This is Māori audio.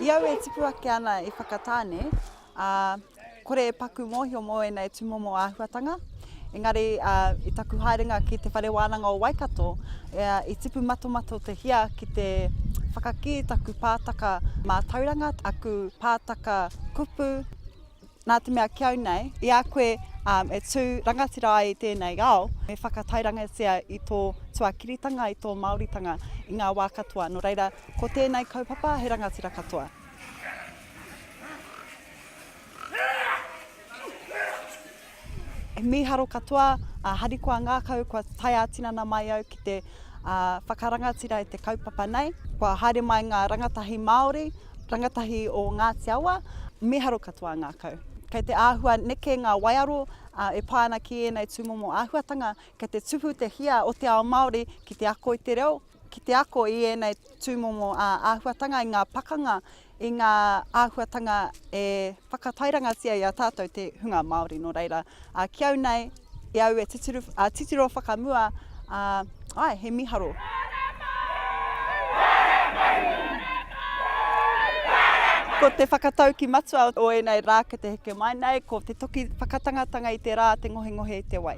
I au e tipu ake ana i Whakatāne, Ā, kore e paku mōhio mō ēnei tūmomo āhuatanga, engari i taku haerenga ki Te Whare Wānanga o Waikato, i tipu matomato te hia ki te whakakī taku pātaka mātauranga, aku pātaka kupu, nā te mea ki au nei, i a koe e tū rangatira ai i tēnei ao, me whakatairangatia i tō tuakiritanga, i tō Māoritanga i ngā wā katoa. Nō reira, ko tēnei kaupapa he rangatira katoa. He mīharo katoa a Harikoa Ngākau kua tae ā-tinana mai au ki te whakarangatira i te kaupapa nei. Kua haere mai ngā rangatahi Māori, rangatahi o Ngāti Awa, mīharo katoa a Ngākau. Kei te āhua neke ngā waiaro e pā ana ki ēnei tūmomo āhuatanga, kei te tupu te hia o te ao Māori ki te ako i te reo, ki te ako i ēnei tūmomo āhuatanga, i ngā pakanga i ngā āhuatanga e whakatairangatia i a tātou te hunga Māori. Nō reira, a, ki au nei, i au e titiro, a, titiro whakamua, a, ai, he miharo. Ko te whakatauki matua o ēnei rā ki te heke mai nei, ko te toki whakatangatanga i te rā, te ngohengohe i te wai.